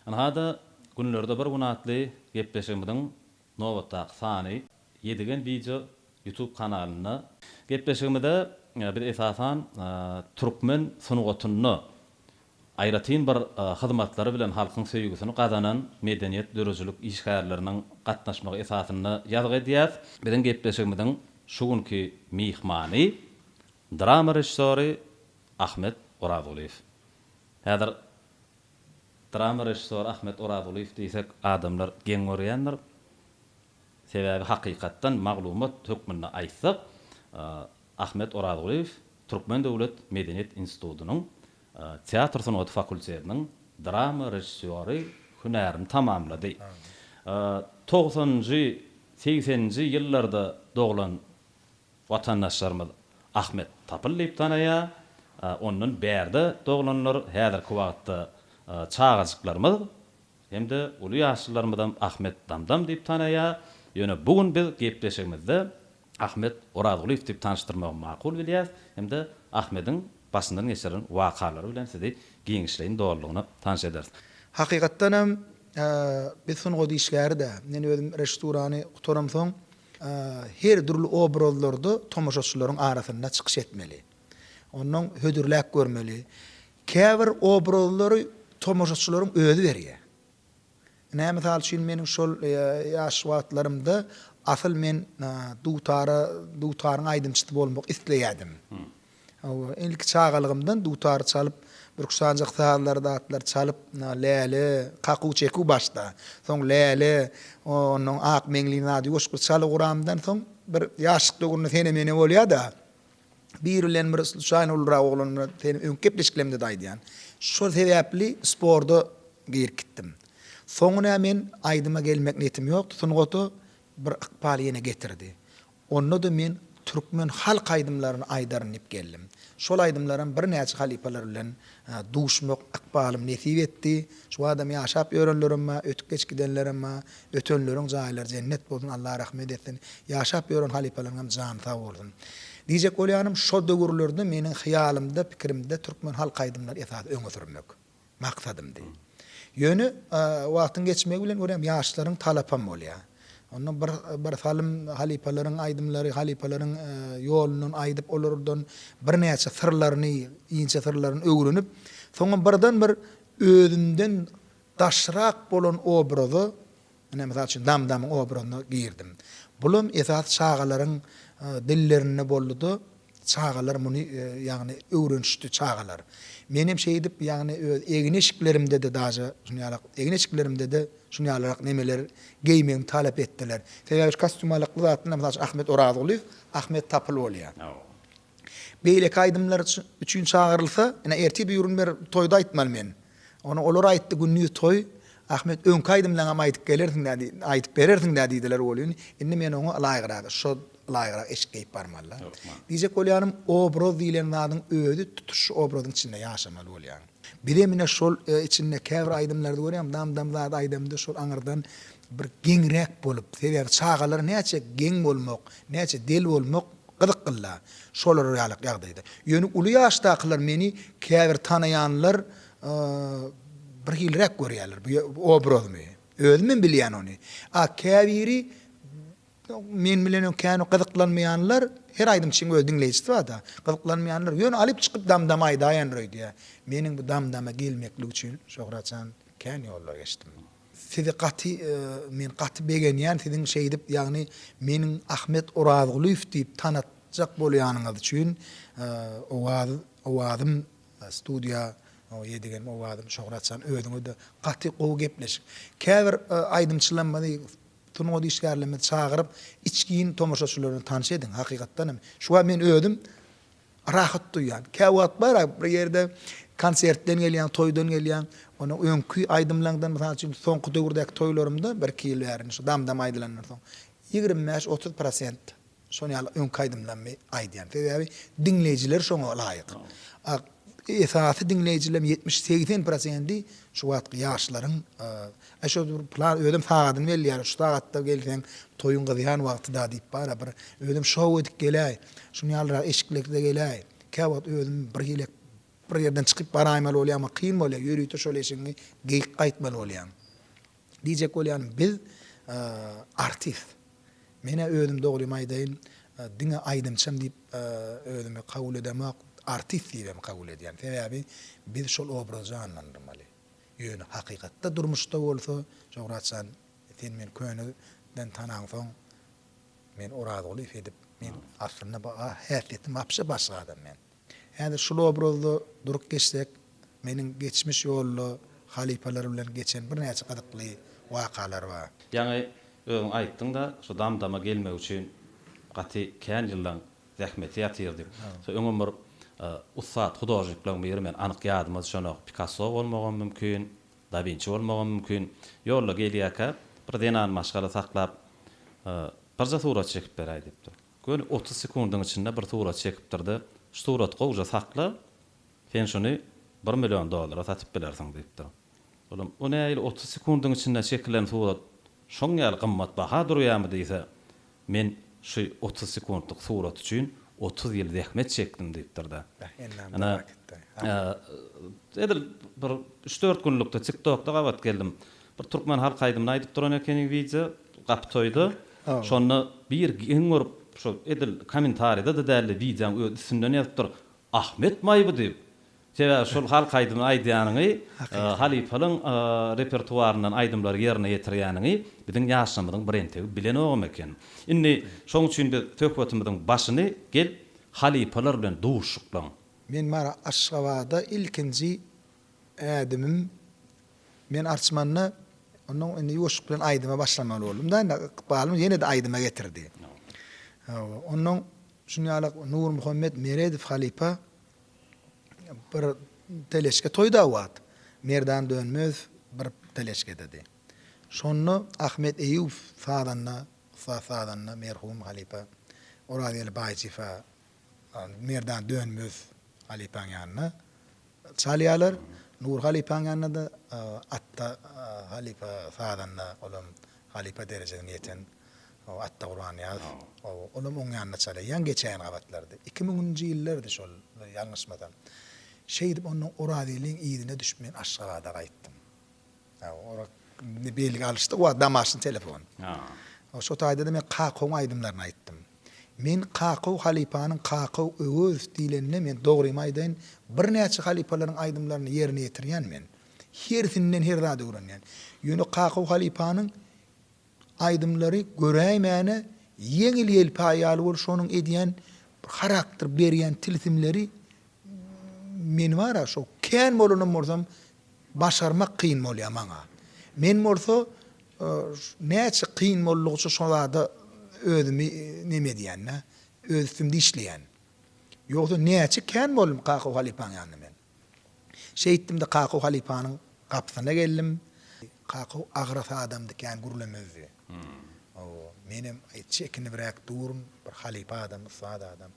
Ynha-da, günlerde bir gün atly gepleşigimiziň nobatdaky sany Ýedigen wideo YouTube kanalynda. Gepleşigimizde biz esasan türkmen sungatynda aýratyn bir hyzmatlary bilen halkyň söýgüsini gazanan medeniýet döredijilik işgärleriniň gatnaşmagy esasynda ýazgy edýäs. Biziň gepleşigimiziň şu günki myhmany, drama režissýory Ahmet Orazgulyýew. Häzir drama režissýory Ahmet Orazgulyýew diýsek, adamlar geň görýändir. Sebäbi hakykatdan maglumat hökmünde aýtsak, Ahmet Orazgulyýew Türkmen döwlet medeniýet institutynyň teatr sungaty fakultetiniň drama režissýory hünärini tamamlady. Togsanynjy, segseninji ýyllarda doglan watandaşlarymyz Ahmet Tapyl diýip tanaýar. Ondan bärde doglanlar, häzirki wagtda çagajyklarymyz hem-de uly ýaşlylarymyzam Ahmet Damdam diýip tanaýar. Ýöne bu gün biz gepleşigimizde Ahmet Orazgulyýew diýip tanyşdyrmagy makul bilýäs hem-de Ahmediň başyndan geçiren wakalary bilen sizi giňişleýin dolulygyna tanyş ederis. Hakykatdan hem, biz sungat işgäri-dä. Men özüm režissurany gutaramsoň, her dürli obrazlarda tomaşaçylaryň arasynda çykyş etmeli. Ondan hödürläp görmeli. Käbir obrazlary tomaşaçylaryň özi berýär. Ine, mysal üçin, meniň şol ýaş wagtlarymda asyl men dutara, dutaryň aýdymçysy bolmak isleýärdim. Hawa, ilki çagalygymdan dutary çalyp, bürksanjak sazlary zatlary çalyp, Läle, kakuw çekuw başda, soň Läle, onnoň Ak meňliň ady ýoşgur çalyp guramdan soň bir ýaşlyk döwründe sene-mene bolýar-da, Biri bilen bir sluçaýno ulurak oglan bilen seni öňki gepleşiklerimde-de aýdýan. Şol sebäpli sporda girip gitdim. Soňy nä men aýdyma gelmek niýetim ýokdy, sungata bir ykbal ýene getirdi. Onda-da men türkmen halk aýdymlaryny aýdaryn diýip geldim. Şol aýdymlaram birnäçe halypalar bilen Duşmak ykbalym nesip etdi. Şu badam ýaşap ýörenlerem bar, ötüp geçip gidenlerem bar. Ötenleriň jaýlary jennet bolsun, Allah rahmet etsin. Ýaşap ýören halypalaryňam jany sag bolsun. Diýjek bolýanym, şo döwürlerde meniň hyýalymda, pikirimde türkmen halk aýdymlary esasy öňe sürmek maksadymdy. Ýöne wagtyň geçmegi bilen görýäň, ýaşlaryň talapam bolýar. Onda bir bir salym halypalaryň aýdymlary, halypalaryň ýolundan aýdyp, olardan birnäçe syrlaryny, inçe syrlaryny öwrenip, soňam birden bir özümden daşrak bolan obraza, ine, mysal üçin, Damdamyň obrazyna girdim. Bulam esasy çagalaryň dillerinde boldy-da, Çagalar muny, ýagny öwrenişdi çagalar. Menem şeýdip, ýagny öz egin-eşiklerimde-de daže şuny ýaly egin-eşiklerimde-de şuny ýalyrak nemeler geýmegimi talap etdiler. Sebäbi şu kostýumalykly zatlar, mysal üçin, Ahmet Orazgulyýew, Ahmet Tapyl bolýar. Beýleki aýdymlar üçin çagyrylsa, ine, ertir-de ýörün bir toýda aýtmaly men. Ony olar aýtdy, gündiz toý, Ahmet, öňki aýdymlaňam aýdyp gelersiň-dä diý, aýdyp berersiň-dä diýdiler welin, indi men oňa ylaýgyragy, şo ylaýgyrak eşik geýip barmaly-da. Diýjek bolýanym, obraz diýlen zadyň özi tutuş şu obrazyň içinde ýaşamaly bolýar. Bizem ine şol içinde käbir aýdymlarda görýäň, dam-dam zat aýdamda şol aňyrdan bir geňräk bolup, sebäbi çagalar näçe geň bolmak, näçe del bolmak, Gyzyklyda, şolar ýaly ýagdaýda. Ýöne uly ýaşdakylar meni käbir tanaýanlar bir hiliräk görýärler bu obrazymy. Özümem bilýän ony. A käbiri men bilen kän gyzyklanmaýanlar, her aýdymçynyň öz diňleýjisi bar-da, gyzyklanmaýanlar ýöne alyp çykyp dam-dama aýdaýandyr öýdýär. Meniň bu dam-dama gelmeklik üçin Şöhratjan kän ýollar geçdim. Sizi gaty men gaty begenýän siziň şeýdip ýagny meniň Ahmet Orazgulyýew diýip tanatjak bolýanyňyz üçin owaz owazym studiýa ýedigem owazym şohratjan özüňizde gaty gowy gepleşik käbir aýdymçylarymyzy sungat işgärlerimizi çagyryp içgin tomaşaçylaryny tanyş ediň hakykatdanam şuwagt men özüm Rahat duýýan. Käwagt bar-a, bir ýerde konsertden gelýäň, toýdan gelýäň, onuň öňki aýdymlaňdan, mysal üçin, soňky döwürdäki toýlarymda, bir-iki ýyl bäri, şu dam-dam aýdylandan soň, ýigrimi bäş, otuz prosent şol ýaly öňki aýdymlarymy aýdýan. Sebäbi diňleýjiler şoňa laýyk. A esasy diňleýjilem ýetmiş, segsen prosendi şu wagtky ýaşlaryň Äý şo bir plan özem sagadyny belleýär, şu sagatda gelseň toýuň gyzýan wagtyda diýip bara bir özem şou edip geläý. Şuny ýalyrak eşiklikde geläý. Kä wagt özüm bir hilek bir ýerden çykyp baraýmaly bolýama kyn bolýa, ýörite şol eşigiňi geýip gaýtmaly bolýaň. Diýjek bolýanym biz artist. Menä özüm dogrymy aýdaýyn diňe aýdymçym diýip özümi kabul edemok, artist diýibem kabul edýän. Sebäbi biz şol obrazy janlandyrmaly. Ýöne hakykatda durmuşda bolsa, Şöwrat jan, sen meni köneden tanaňsoň, men Orazguly Fedip, men aslynda bu häsiýetim wapşe başga adam men. Häzir şul obrazda durup geçsek, meniň geçmiş ýolda halypalar bilen geçen birnäçe gyzykly wakalar bar. Ýaňy özüň aýtdyň-da, şu dam-dama gelmek üçin gaty kän ýyldan Zähmeti ýatyrdy. Soň öňem bir ussat hudožniklaryň biri, men anyk ýadyma düşenok, Pikasso bolmagam mümkin, Da Winçi bolmagam mümkin, ýolda gelýärkä bir zenan maşgala saklap, Birje surat çekip beräý diýipdir. Göni otuz sekundyň içinde bir surat çekipdir-de, Şu suraty gowja sakla, sen şuny bir million dollara satyp bilersiň diýipdir. Olam, O nähili otuz sekundyň içinde çekilen surat şoň ýaly gymmat baha durýarmy diýse, Men şu otuz sekuntlyk surat üçin otuz ýyl zähmet çekdim diýipdir-de. Ynha, edil bir üç-dört günlükde TikTokda gabat geldim. Bir türkmen halk aýdymyny aýdyp duran ekeniň wideo, Gapy toýda. Şonda bir geň görüp, şol edil kommentariýada-da däl-de, wideoň öz üstünden ýazypdyr, Ahmet maýby diýip. Sebäbi şol halk aýdymy aýdýanyňy, halypalyň repertuaryndan aýdymlary ýerine ýetirýäniňi biziň ýaşlarymyzyň birentegi bilenogam eken. Indi şoň üçin biz söhbetimiziň başyny gel, halypalar bilen duşuşyklaň. Men bar Aşgabada ilkinji ädimim men arçmanda ondan indi ýuwaşlyk bilen aýdyma başlamaly boldum-da indi ykbalym ýene-de aýdyma getirdi. Hawa, ondan şuny ýaly Nurmuhammet Meredow halypa Bir teleşke toýda wagt Merdan Dönmezow bir teleşkededi. Şonda Ahmet Eýýubow sazanda, ussat sazanda merhum halypa Orazgeli Baýçyfa Merdan Dönmezow halypaň ýanyna çalýarlar. Nury halypaň ýanyna-da Atda halypa sazanda olam halypa derejesine ýeten O Atda Gurbanýazow. O, olam oň ýanyna çala ýaň geçäýen gabatlardy. Iki müňünji ýyllardy şol, ýalňyşmasam. Şeýdip, ondan Orazgeldiň yzyna düşüp men Aşgabada gaýtdym. Ora indi belgi alyşdyk wagt damaşyn telefon. O şo taýda-da men Kakowyň aýdymlaryny aýtdym. Men Kakow halypanyň Kakow Öwezow diýlenine men dogrymy aýdaýyn, birnäçe halypalaryň aýdymlaryny ýerine ýetirýän men. Hersinden her zady öwrenýän. Ýöne Kakow halypanyň Aýdymlary göräýmäne ýeňil ýelpaý ýaly bolup şonuň edýän bir harakter berýän tilsimleri men bara şo kän bolanam bolsam başarmak kyn bolýa maňa. Men bolsa näçe kyn boldugyça şo zada özümi neme edýänä öz üstümde işleýän. Ýogsa näçe kän boldum Kakaw halypaň ýanynda men. Şeýtdim-de Kakow halypanyň gapysyna geldim. Kakow agras adamdy, kän gürlemezdi. Menem çekinibräk durun, bir halypa adam, ussat adam.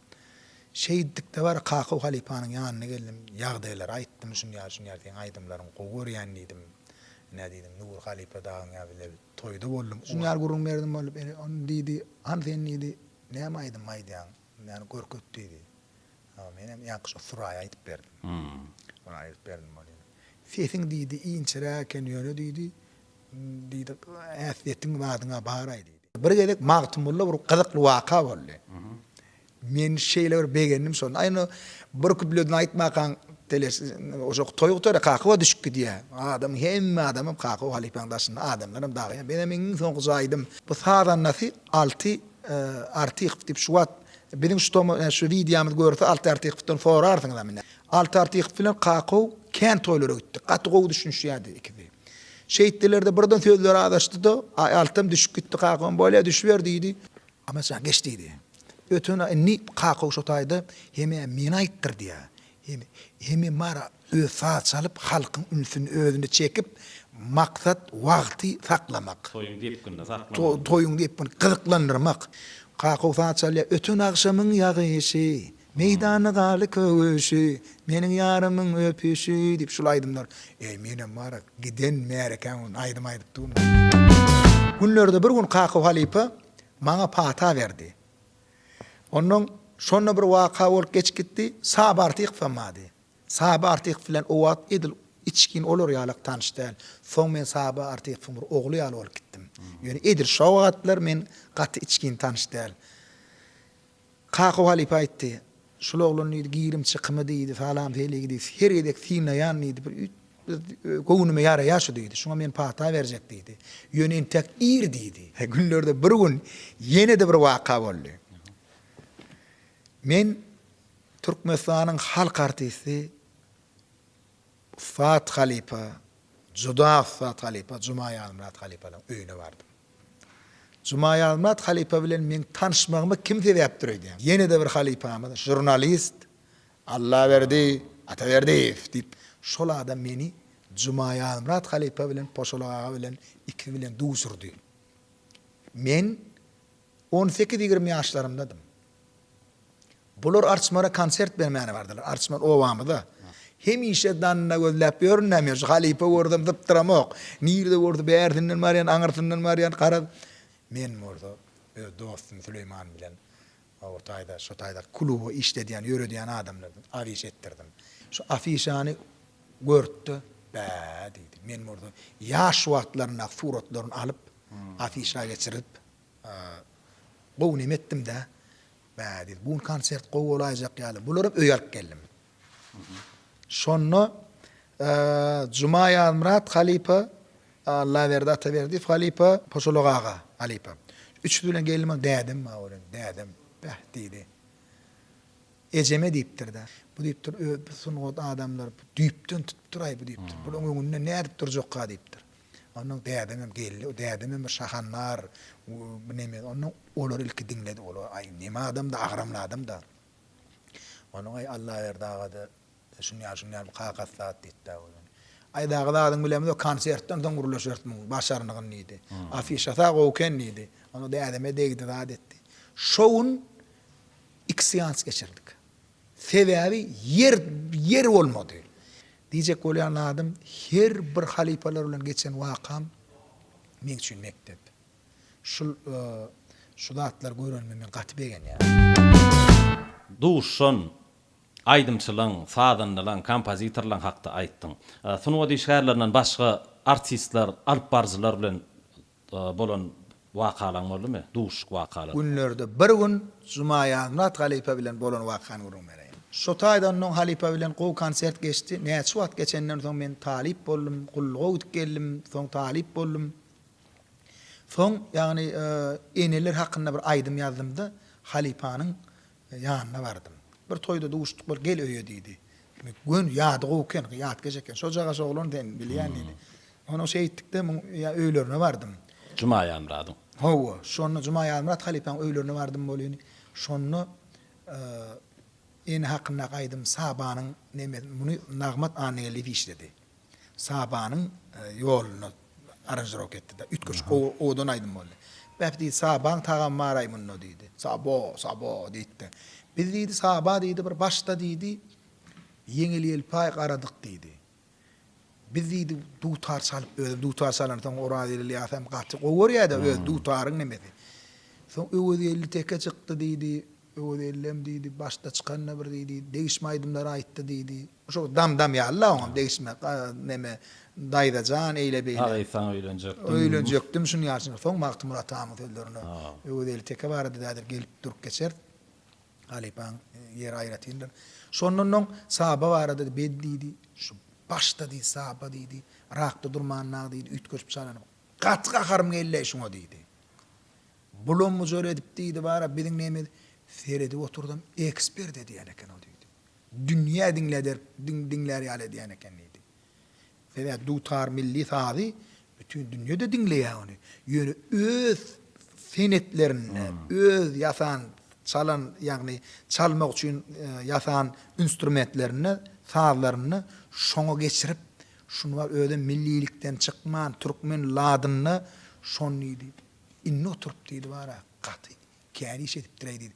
Şeýtdikde bar Kakow halypanyň ýanyna geldim, ýagdaýlary aýtdym, şunýaly-şunýaly seň aýdymlaryňy gowy görýän diýdim. Ine diýdim, Nury halypa dagyň ýa bize toýda boldum. Şunýaly gürrüň berdim bolup, ine ony diýdi, hany sen diýdi, näme aýdym aýdýaň, ýany görket diýdi. Hawa, menem ýaňky şo Suraýa aýdyp berdim. Ony aýdyp berdim ony. Sesiň diýdi, inçeräk eken, ýöne diýdi, diýdi, ähtiýetiň badyň-a bar-aý diýdi. Bir gezek Magtymgulyda bir gyzykly waka boldy. Men şeýle bir begendim şony. Aý ony bir küpleden aýtmakaň teleş, oşo toý gutaryp Kakowa düşüp gidýär. Adam, hemme adamam Kakowa halypaň daşynda, adamlaram dagy. Menem iň soňky jaýdym. Bu sazandasy Alty Artykow diýip şu wagt biziň şu tomy näme şu wideomyzy görse Alty Artykowdan sorarsyňyzam ine. Alty Artykow bilen Kakow kän toýlara gitdik. Gaty gowy düşünişýärdi ikisi. Şeýtdilerde birden sözleri azaşdyda Aý Altam düşüp gitdi Kakowam bolýa düşüber diýdi. Amaçjan geç diýdi. Öten indi Kakow şo taýda hemä meni aýtdyrdýa. Hemi, hemi Mara öz saz çalyp, halkyň ünsüni özüne çekip, maksat wagty saklamak. Toýuň depginini saklamak. Toýuň depginini gyzyklandyrmak. Kakaw saz çalýar. Öten agşamyň ýagyşy, Meýdanda galdy köwüşi, Meniň ýarymyň öpüşi diýip şul aýdymlar. Eý menem Mara giden märekäň gün aýdym aýdyp durdum. Günlerde bir gün Kakaw halypa maňa pata berdi. Onnoň şonda bir waka bolup geçip gitdi. Saby Artykowa mady. Saby Artykow bilen o wagt edil içgin olar ýalak tanyş däl. Soň men Saby Artykowyň bir ogly ýaly bolup gitdim. Ýöne edil şo wagatlar men gaty içgin tanyş däl. Kakow halypa aýtdy. Şul oglan diýdi, girim-çykymy diýdi, salam-seligi diýdi, her gezek synlaýan diýdi, bir üýt göwnüme ýaraýar şu diýdi, şuňa men pata berjek diýdi. Ýöne entäk ir diýdi. Günlerde bir gün ýene-de bir waka boldy. Men Türkmenistanyň halk artisti. Ussat halypa, juda ussat halypa Jumaýazmyrat halypanyň öýüne bardym. Jumaýazmyrat halypa bilen meň tanyşmagyma kim sebäpdir öýdýäň? Ýene-de bir halypamyz, žurnalist Allaberdi Ataberdiýew diýip, şol adam meni Jumaýazmyrat halypa bilen Poşolak aga bilen ikisi bilen duşurdy. Men On sekiz-ýigrimi ýaşlarymdadym. Bular Arçmara konsert bermäne bardylar. Arçman obamyza. Hemişe danda gözläp ýörün näme ýörüş. Halypa görsem zypdyramok. Nirede görse bärsinden barýan, aňyrsyndan barýan. Garaz, men bolsa öz dostum Süleýman bilen o taýda, şu taýda kluby işledýän, ýöredýän adamlardan afiş etdirdim. Şu afişany görüp-de, Bä! diýdi. Men bolsa ýaş wagtlaryndaky suratlaryny alyp, afişa geçirip. Gowy neme etdimdä. Bä diýdi. Bu gün konsert gowy bolaýjak ýaly. Bularam öýe alyp geldim. Şonda Juma Ýazmyrat halypa, Allaberdi Ataberdiýew halypa, Poçolak aga halypa. Üçüsi bilen geldim ha dädem bar welin, dädem, Bäh diýdi. Ejeme diýipdir-de. Bu diýipdir, Öe, bu sungat adamlary düýpden tutupdyr-aý bu diýipdir. Bularyň öňünde nädip durjakka diýipdir. Ondan dädeňem geldi. O dädeňem bir şahandar. Bu neme? Ondan olar ilki diňledi. Olar aý neme adam-da, agramly adam-da. Ondan aý Allaberdi aga-da şuny ýaly, şuny ýaly bir kakasy zat diýdi-de özüni. Aý dagy zadyň bilemizok, o konsertden soň gürleşeris muň başarnygyn diýdi. Afişasy-a gowy eken diýdi. Onda dädeme degdi zat etdi. Şo gün iki seans geçirdik. Sebäbi ýer, ýer bolmady. Diýjek bolýan zadym, her bir halypalar bilen geçen wakam meň üçin mekdep. Şul şu zatlary görenime men gaty begenýän. Duşan, aýdymçylaň, sazandalaň, kompozitorlaň hakda aýtdyň. Sungat işgärlerinden başga artistler, alypbaryjylar bilen bolan wakalaň boldumy? Duşuşyk wakalary. Günlerde bir gün Jumaýazmyrat halypa bilen bolan wakany gürrüň bereýin. Şo taýdan oň halypa bilen gowy konsert geçdi. Näçe wagt geçenden soň men talyp boldum. Gulluga gidip geldim. Soň talyp boldum. Soň, ýagny, eneler hakynda bir aýdym ýazdymda, halypanyň Ýanyna bardym. Bir toýda duşduk bir gel öýe diýdi. Gön ýady gowy eken, ýat geje eken. Şojagaz şo oglan sen bilýän diýdi. Onsoň şeýtdikde muň öýlerine bardym. Juma Ýazmyradyň. Hawa, şonda Juma Ýazmyrat halypaň öýlerine bardym welin, şonda Ene hakyndaky aýdym Sabanyň neme muny Nagmat Annageldiýew işledi. Sabanyň ýoluna aranžirowka etdi-de. Üýtgeşik gowy, owadan aýdym boldy. Beh, diýdi, Sabaň tagamy bar-aý munda, diýdi. Sabo, sabo, diýdi-de. Biz, diýdi, Saba, diýdi, bir başda, diýdi, ýeňil-ýelpaý garadyk, diýdi. Biz, diýdi, dutar çalyp, özem dutar çalansoň, Orazgeldi ýasa hem gaty gowy görýär-de, öz dutaryň nemesi. Soň Öwezgeldi teke çykdy, diýdi. Öwez ellem diýdi, başda çykanda bir diýdi, degişme aýdymlar aýtdy diýdi. Şo dam-dam ýaly la oňam degişme, neme, daýza jan, eýle-beýle. Aga saňa öýlenjekdim. Öýlenjekdim, şuny ýaşyna. Soň Magtymguly atamyň sözlerine Öwez elli teke barada dädir, gelip durup geçer. Halypaň ýeri aýratyndyr. Şondan oň Saba barada bed diýdi. Şu başda diýdi, Saba diýdi, rakda durmanynda diýdi, üýtgeşip çalanyp, gaty gaharym geldi-eý şuňa diýdi. Bulam mujar edip diýdi bara biziň nemiz seredip oturdym ekspert edýän eken o diýdi. Dünýä diňläder diňlär ýaly edýän eken diýdi. Sebäbi dutar milli sazy bütin dünýede diňleýär ony. Ýöne öz senetlerinde öz ýasan çalan ýagny çalmak üçin ýasan instrumentlerinde sazlarynda şoňa geçirip şuny bar özem millilikden çykman türkmen ladynda şony diýdi. Indi oturyp diýdi bar-a, gaty kän iş edipdir-eý diýdi.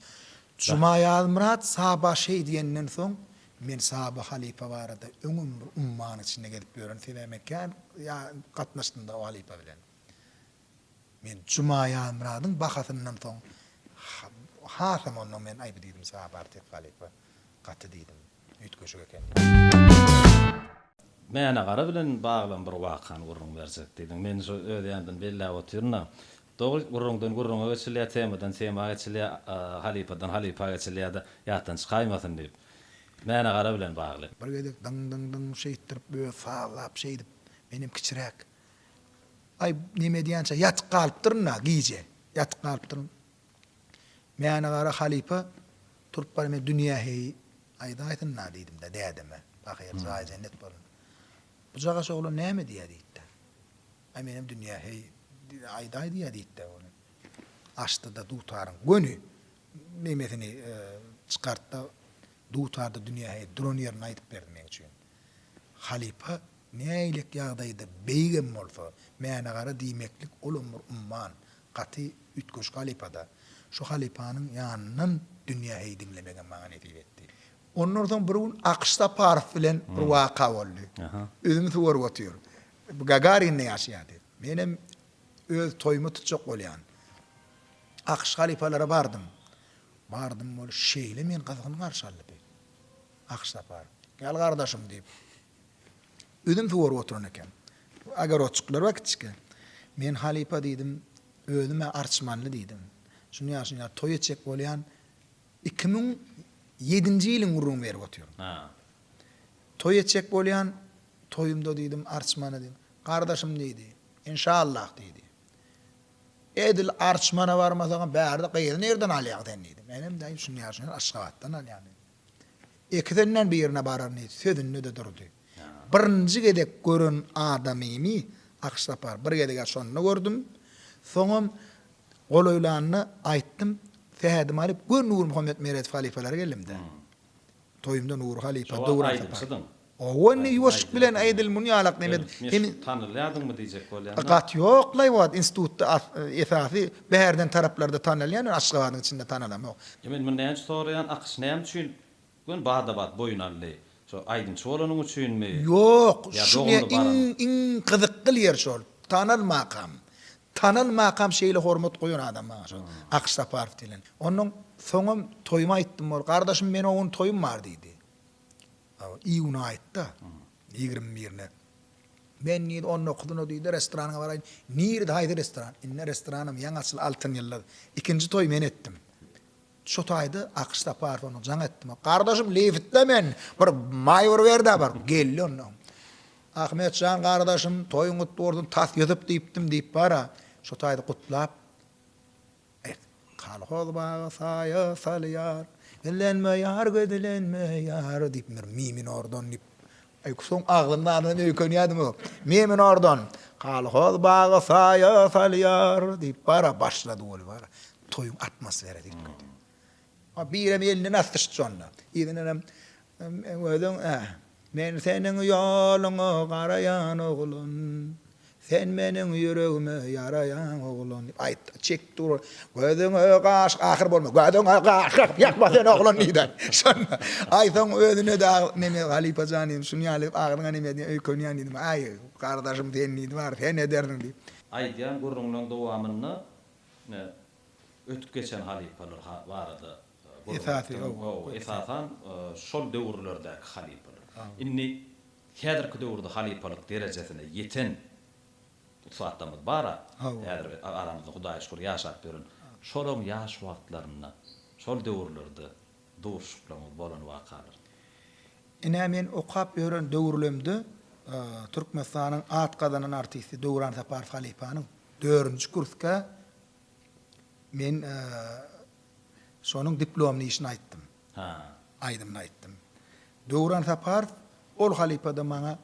Juma Ýazmyrat Saba şeý diýenden soň, men Saba halypa barada öňem bir ummany içinde gezip ýören, sebäbi men kän gatnaşdym-da o halypa bilen. Men Juma Ýazmyradyň bahasyndan soň, hasam ondan men aýby diýdim, Saba artist halypa, gaty diýdim. üýtgeşik ekeni. Mänagara bilen baglam bir wakany gürrüň berjek diýdiň. Men şu öz ýanymdan belläp otyryn-da. Dogry, gürrüňden gürrüňe geçilýär, temadan tema geçilýär, halypadan halypa geçilýär-de, ýatdan çykaýmasyn diýip. Mänagara bilen bagly. Bir gezek dyň-dyň-dyň şeýtdirip özi sazlap şeýdip, menem kiçiräk, aý, neme edýänçä ýatyp galypdyryn-da, gije ýatyp galypdyryn. Mäne-gara halypa turup bar, men dünýä heý, aýdaýsyn-la diýdim-de dädeme, pahyr, jaýy jennet bolsun, bu jagaş oglan näme diýýä diýdi-de. Aý, menem dünýä heý, aýdaý diýýä diýdi-de ony. Açdy-da dutaryň göni nemesini çykartdy-da, dutarda dünýä heý duran ýerini aýdyp berdi meň üçin. Halypa nähilek ýagdaýda beýigem bolsa, Mäne-gara diýmeklik olam bir umman, Gaty üýtgeşik halypa-da. Şu halypanyň ýanyndan dünýä heý diňlemegem maňa nesip etdi. Ondan soň bir gün Akyş Saparow bilen bir waka boldy. Üzüm suwaryp otyr. Bu Gagarinde ýaşaýardy. Menem öz toýumy tutjak bolýan. Akyş halypalara bardym. Bardym, ol şeýle meni gyzgyn garşy aldy. Akyş Saparow, Gel gardaşym diýip. Üzüm suwaryp oturan eken. Ogorodçyklar bar kiçikä. Men halypa diýdim, Özüm-ä arçmanly diýdim. Şuny-ýa, şuny-ýa toý etjek bolýan. Iki müň ýedinji ýylyň gürrüňini berip otyryn. Toý etjek bolýan, toýumda diýdim, arçmany diýdim. Gardaşym diýdi, Enşallah diýdi. Edil arçmana barmasagam bärde gyzy nirden alýaň sen diýdi. Menem daýy şuny-ýa, şuny-ýa Aşgabatdan alýan diýdim. Ikisinden birine bararmy sözünde-de durdy. Birinji gezek gören adamymy Aksapar bir gezeg-ä şonda gördüm. Soňam golaýlanda aýtdym, sähedimi alyp, gör Nurmuhammet Meredow halypalar geldim-dä. Toýumda Nury halypa, Döwran sapar. Hawa indi ýuwaşlyk bilen edil muny ýalak neme hem tanalýadyňmy diýjek bolýan da. Gaty ýok laýwat institutda esasy bärden taraplarda tanalýan men aşgabadyň içinde tanalamok. Ýa men muny näme üçin soraýan akyş näme üçin göni bada bat boýun aldy şo aýdymçy bolanyň üçinmi Ýok ýa dogumly baran. Şuňa iň gyzykgyl ýeri şol tanalmakam tanalmakam şeýle hormat goýan adam maňa şo Akyş Saparow diýlen onnoň soňam toýumy aýtdym ol gardaşym men o gün toýum bar diýdi Iýuna aýtda, ýigrimi birine. Men diýdi, on dokuzyna diýdi, restoranyňa baraýyn. Nirede, haýsy restoran? Indi restoranam ýaňy açyl, Altyn ýyldyz. Ikinji toýy men etdim. Şo taýda Akyş Saparow onuň jaň etdim. Gardaşym, liftle men, bir maýwur ber-dä bir. Geldi onda. Ahmet jan gardaşym, toýuň gutly bolsun, tas Ýusup diýipdim diýip bar-a. Şo taýda gutlap. Aýt. Kolhoz baga saýa salýar. Gizlenme ýar, gizlenme ýar, diýip bir mi minordan diýip, Aýkusuň agzyndanam öýkenýädimi? Mi minordan, Kolhoz baga saýa salýar, diýip, bara başlady, ol bara toýuň atmosferasy girdi. Ol birem elini basdyşdy şonda. Yzyndanam Özüň ä. Men seniň ýoluňa garaýan oglan, Sen meniň ýüregime ýaraýan oglan diýip aýtdy. Çekip dur ol. Gözüňe gaş ahyr bolma, Gözüňe gaş gakyp ýatma sen oglan diýdi. Şonda. Aý soň özüne de neme halypa jan diýdim. Şuny ýaly agyryňa neme diýen öýkenýän diýdim. Aý gardaşym sen diýdi. Bar sen edersiň diýip. Aýdýan gürrüňleň dowamynda Ötüp geçen halypalar barada gürrüňetdiň. Esasan şol döwürlerdäki halypalar. Indi häzirki döwürde halypalyk derejesine ýeten ussatlarymyz bar-a, häzir aramyzda Hudaýa şükür ýaşap ýören. Şolaryň ýaş wagtlarynda, şol döwürlerde duşuşyklaryňyz bolan wakalar. Ine men okap ýören döwürlemde Türkmenistanyň at gazanan artisti Döwran Saparow halypanyň dördünji kursga Men şonuň diplomly işini aýtdym. Ha. Aýdymyny aýtdym. Döwran Saparow ol halypada maňa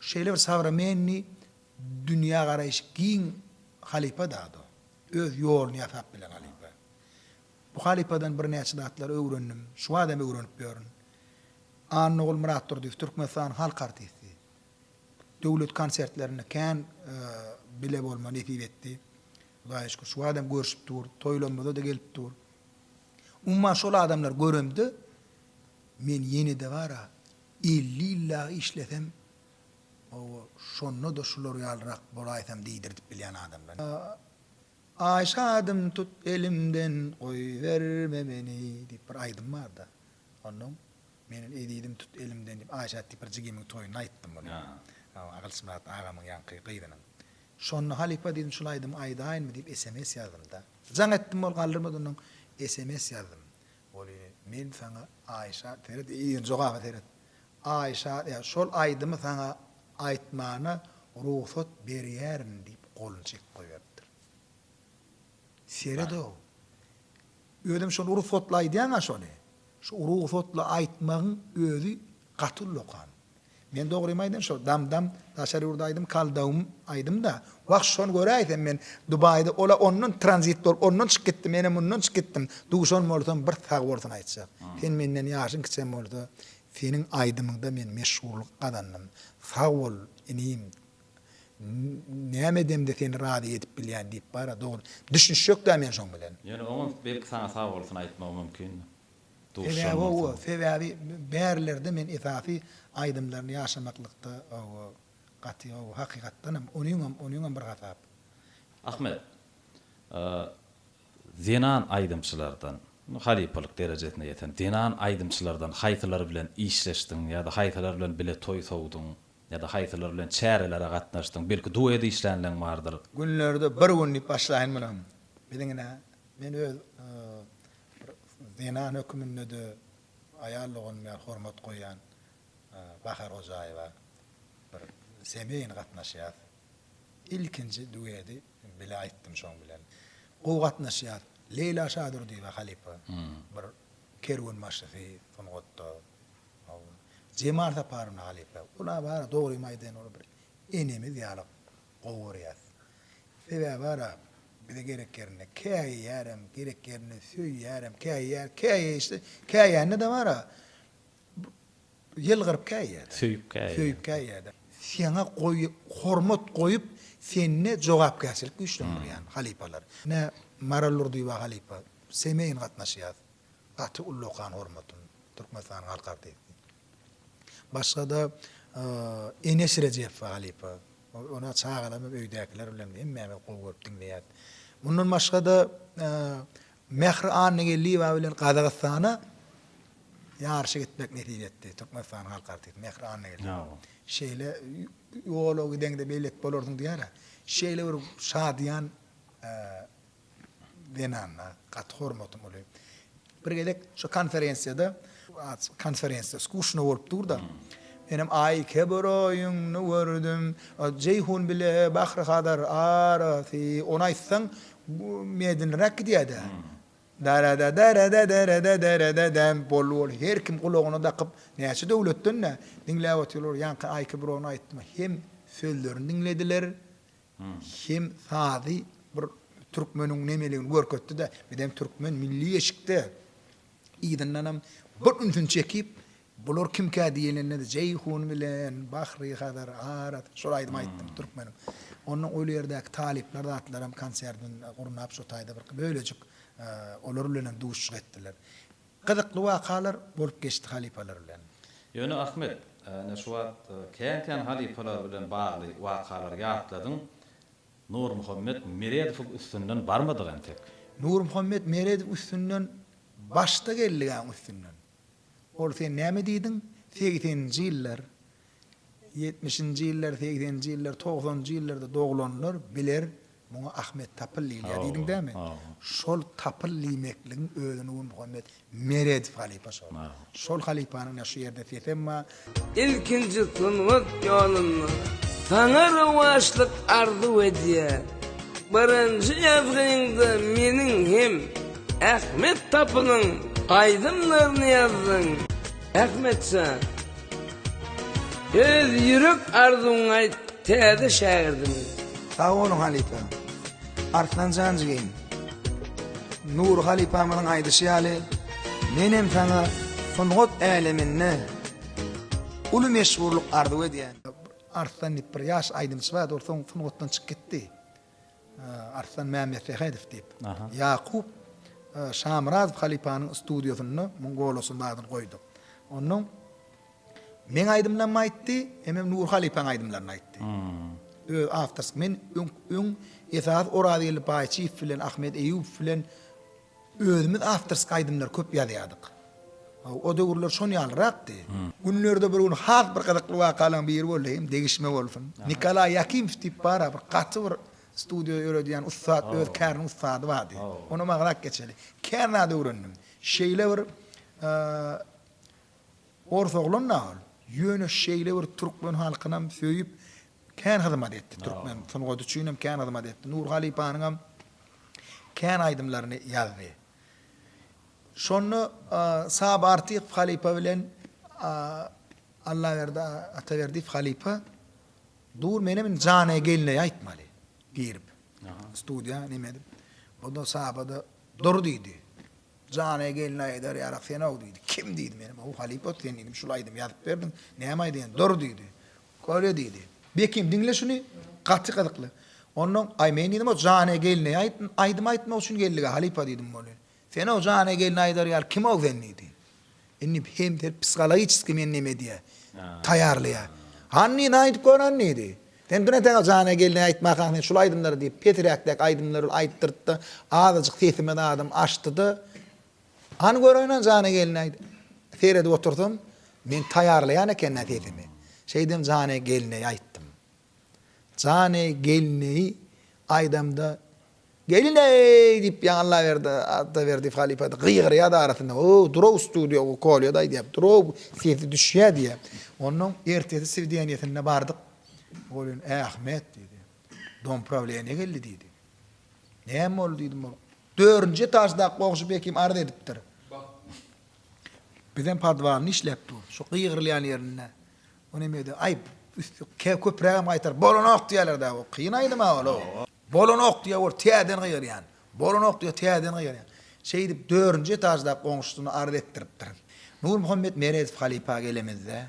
şeýle bir sowremenniý dünýä garaýşy giň halypa zat o. Öz ýoluny ýasap bilen halypa. Bu halypadan birnäçe zatlary öwrendim. Şu wagt hem öwrenip ýörün. Annagul Myratdurdyýew, Türkmenistanyň halk artisti. Döwlet konsertlerinde kän bile bolma nesip etdi. Hudaýa şükür, şu wagtam görşüp dur, toýlarymyza-da gelip dur. Umuman şol adamlary göremde, men ýene-de bar-a, elli ýyl dagy işlesem, hawa, şonda-da şular ýalyrak bolaýsam diýdirdip bilýän adamlar. Aý şadym tut elimden, goýberme meni diýip bir aýdym bar-da. Onnoň Meniň ezizim tut elimden diýip Aýşa diýip bir jigimiň toýunda aýtdym muny. Gylyçmyrat agamyň ýaňky gyzynyň. Şonda halypa diýdim şul aýdymy aýdaýynmy diýip sms ýazdymda. Jaň etdim ol galdyrmady ondan sms ýazdym. Ol ýene men saňa Aýşa seret ýene jogaba seret. Aýşa ýa şol aýdymy saňa aýtmana rugsat berýärin diýip goluny çekip goýberipdir. Seredow. Özem şony rugsatly aýdýaňa şony. Şu rugsatly aýtmagyň özi gaty uly okam. Men dogrymy aýdyn şol damdam daşary ýurda aýdym kaldawym aýdymda wah şony göräýsem men Dubaýda ola ondan tranzit bolup ondan çyk gitdim ene mundan çyk gitdim duşan bolsam bir sag bolsun aýtjak sen menden ýaşyň kiçem bolsa seniň aýdymyňda men meşhurlyk gazandym sag bol inim Näme edemde seni razy edip bilýän diýip bara dogry. Düşünişjek-dä men şoň bilen. Ýöne oňam belki saňa sag bolsun aýtmagy mümkin. Duşan bolsaň. Sebäbi bärlerde men esasy aýdymlaryny ýaşamaklykda gaty hakykatdanam onuňam onuňam bir hasap. Ahmet. Zenan aýdymçylardan, halypalyk derejesine ýeten zenan aýdymçylardan haýsylary bilen işleşdiň ýa-da haýsylary bilen bile toý sowduň? Ýa-da haýsylar bilen çärelere gatnaşdyň? Belki duet işlänleň bardyr? Günlerde bir gün diýip başlaýyn muny. Biziň ine, men öz bir zenan höküminde-de aýal doganym ýaly hormat goýýan Bahar Hojaýewa bir semýaýyny gatnaşýas. Ilkinji duedi bile aýtdym şoň bilen. Gowy gatnaşýas. Leýla Şadurdyýewa halypa bir kerwenbaşysy sungatda. Hawa. Jemal Saparowyna halypa. Ula bar-a dogrymy aýdaýyn ol bir enemiz ýaly gowy görýäs. Sebäbi bar-a bize gerek ýerinde käýýärem, gerek ýerinde söýýärem, käýýär, käýeýşde, käýende-de bar-a ýylgyryp käýýär-de. Söýüp käýýär. Söýüp käýýär-de. Seňe goýy hormat goýup, sende jogapkärçilik güýçlendirýän halypalar. Ine, Maral Durdyýewa halypa. Semeýin gatnaşýas. Gaty uly okan hormatym Türkmenistanyň halk artisti. Başgada Enes Rejepow halypa. Ony çagalarym hem öýdäkiler bilen hemmämiz gowy görüp diňleýäs. Mundan başgada Mähri Annageldiýewa bilen Gazagystana ýaryşa gitmek nesip etdi. Türkmenistanyň halk artisti Mähri Annageldiýewa. Şeýle ýola gideňde beýleki bolarsyň diýýär-ä. Şeýle bir şadyýan Zenana gaty hormatym uly. Bir gezek şu konferensiýada, konferensiýa skuşna bolup dur-da, menem Aý kebroýuňny gördüm, Jeýhun bile Bahry Hazar arasy, ony aýtsaň medinräk gidýär-dä. Dara-da-dara-da-dara-da-dara-da-dam, boldy ol her kim gulagyna dakyp, näçe döwletden-dä diňläp otyrlar, ýaňky Aý kebrony aýtma, hem sözlerini diňlediler, Hem sazy bir türkmeniň nemeligini görkezdi-de, bizem türkmen milli eşikde yzyndanam bir ünsüni çekip, bular kimkä diýilende-de Jeýhun bilen Bahri Hazar arasy şol aýdymy aýtdym türkmeniň. Onnoň ol ýerdäki talyplar zatlaram konserdini gurnap şo taýda bir bölejik olar bilenem duşuşyk etdiler. Gyzykly wakalar bolup geçdi halypalar bilen. Ýöne Ahmet, ine şu wagt kän-kän halypalar bilen bagly wakalary ýatladyň. Nurmuhammet Meredowyň üstünden barmadyk entek. Nurmuhammet Meredow üstünden başda geldigaň üstünden. Ol sen näme diýdiň, segseninji ýyllar Ýetmişinji ýyllar, segseninji ýyllar, togsanynjy ýyllarda doglanlar biler, muňa Ahmet Tapyl diýilýär diýdiň dämi? Şol Tapyl diýmekligiň özüni we Muhammet Meredow halypa şol. Şol halypanyň ýa şu ýerde sesem bar. Ilkinji sungat ýolunda saňa rowaçlyk arzuw edýän. Birinji ýazgyňda meniň hem Ahmet Tapylyň aýdymlaryny ýazdyň. Ahmetjan! Öz ýürek arzuwyňy aýt täze şägirdiňe. Sag boluň halypa. Arslanjan jigim. Nury halypamyzyň aýdyşy ýaly menem saňa sungat äleminde uly meşhurlyk arzuw edýän. Arslan diýip bir ýaş aýdymçy bardy ol soň sungatdan çykyp gitdi. Arslan Mämmetsähedow diýip, Ýakup Şamyrazow halypanyň studiýasynda muň golasynyň adyny goýduk. Onuň meň aýdymlarymy aýtdy, hemem Nury halypanyň aýdymlaryny aýtdy. Öz awtorsk men öň esasy Orazgeldi Baýçyýew bilen Ahmet Eýýubow bilen Özümiz awtorski aýdymlar köp ýazýardyk. O döwürler şon ýalyrakdy. Günlerde bir gün has bir gyzykly wakalaň biri boldy hem degişme bolsun. Nikolaý Ýakimow diýip bar-a bir gaty bir studio ýöredýän ussat öz käriniň ussady bardy. Onam agzak geçeli. Kän zat öwrendim. Şeýle bir ors oglan-da ol. Ýöne şeýle bir türkmen halkynam söýüp Kän hyzmat etdi, türkmen sungaty üçin hem kän hyzmat etdi. Nur halypanyň hem kän aýdymlaryny ýazdy. Şonda Saba Artykow halypa bilen Allaberdi Ataberdiýew halypa Dur menem indi Janä gelneý aýtmaly girip. Studiýa neme edip. Onda Saba-da Dur diýdi. Janä gelneý aýdar ýarak sen-ow diýdi. Kim diýdim menem. Ow halypa sen diýdim şul aýdymy ýazyp berdiň. Näme aýdaýaň? Dur diýdi. Köre diýdi. Bekim, diňle şuny, gaty gyzykly. Onnoň, Aý, men diýdim, o Jane gelneý aýt, aýdym aýtmak üçin geldik-ä, halypa diýdim, bolýa. Sen o Jane gelne aýdar ýaly kim-ow sen diýdi. Indi hem sen psihologiçeskiý meni näme edýä, taýýarlaýa. Hany diýdi, aýdyp gör hany diýdi. Sen bir nätäň o Jane gelneý aýtmakaň sen şul aýdymlary diýip, peträkdäki aýdymlary aýtdyrtdy, azajyk sesimiz adam açdy-da, Hany göräýin-ä Jana gelni aýt. Seredip otursam, men taýýarlaýan eken-ä sesimi. Şeýdem Jana gelneý aýtdym. Jana gelneý aýdamda Gelineý! diýip ýaňy Allaberdi Atdaberdiýew halypa-da gygyrýardy arasynda. O, dur-ow studiýa, o Kolýa-da aýdýar, dur-ow, sesi düşýär diýýär. Onnoň ertesi swideniýesine bardyk. Ol ýene, Ähmet! diýdi. Domprawleniýe geldi diýdi. Näme boldy diýdim ol. Dördünji etaždaky goňşy Bekim arz edipdir. Bizem podwalny işläp dur. Şu gygyrylýan ýerinde. O nemedi. Aý, üsti ke köprägem gaýtar. Bolanok diýerler-dä o. Kyn aýdym-a ol-ow. Bolanok diýýär ol. Täzeden gygyrýan. Bolanok diýýär, täzeden gygyrýan. Şeýdip, dördünji etaždaky goňşusyna arz etdiripdir. Nurmuhammet Meredow halypa gelemizde,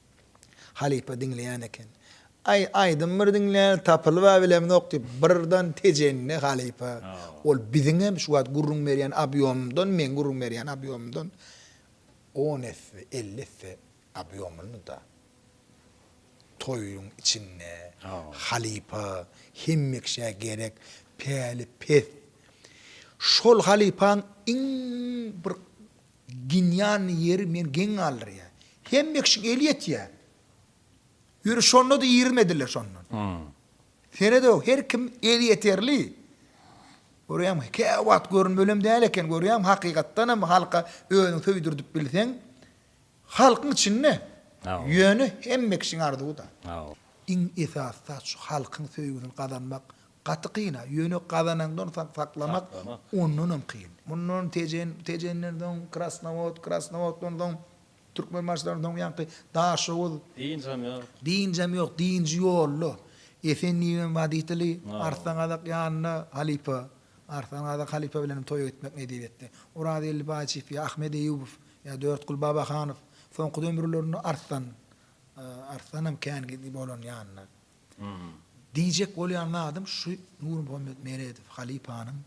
Halypa diňleýän eken. Aý, aýdym bir diňläli tapylyp-a bilemzok diýip, birden tejende halypa, Ol biziňem şu wagt gürrüň berýän obýomymdan meň gürrüň berýän obýomymdan on esse, elli esse obýomlydy-da. Toýuň içinde halypa hemmekiş-ä gerek, päli pes. Şol halypaň iň bir Ginýanny ýeri men geň galdyrýa. Hemmekşiň eli ýetýä. Ýöne şonda-da iýrmediler şondan. Senede her kim elýeterli. Görýäňm, käwagt görünmelem däl eken, görýäňm, hakykatdanam halka özüň söýdürdip bilseň, halkyň içinde. Ýöne hemmekşiň arzuwy-da. Iň esasy zat şu halkyň söýgüsini gazanmak, Gaty kyn-a, ýöne gazanandan soň saklamak ondanam kyn. Mundan Tejen, Tejenden soň Krasnowod, Krasnowoddan soň Türkmenbaşydan soň ýaňky Daşoguz. Dynjam ýok. Dynjam ýok, dynjy ýolda. Efendibem woditeli, Arslangadak ýanynda halypa. Arslangadak halypa bilenem toýa gitmek nesip etdi. Oraz Geldibaýçew ýa Ahmet Eýýubow ýa Dörtgül Babahanow. Soňky dömürlerinde Arslan, Arslanam kän bolan ýanyna. Diýjek bolýan zadym şu Nurmuhammet Meredow halypanyň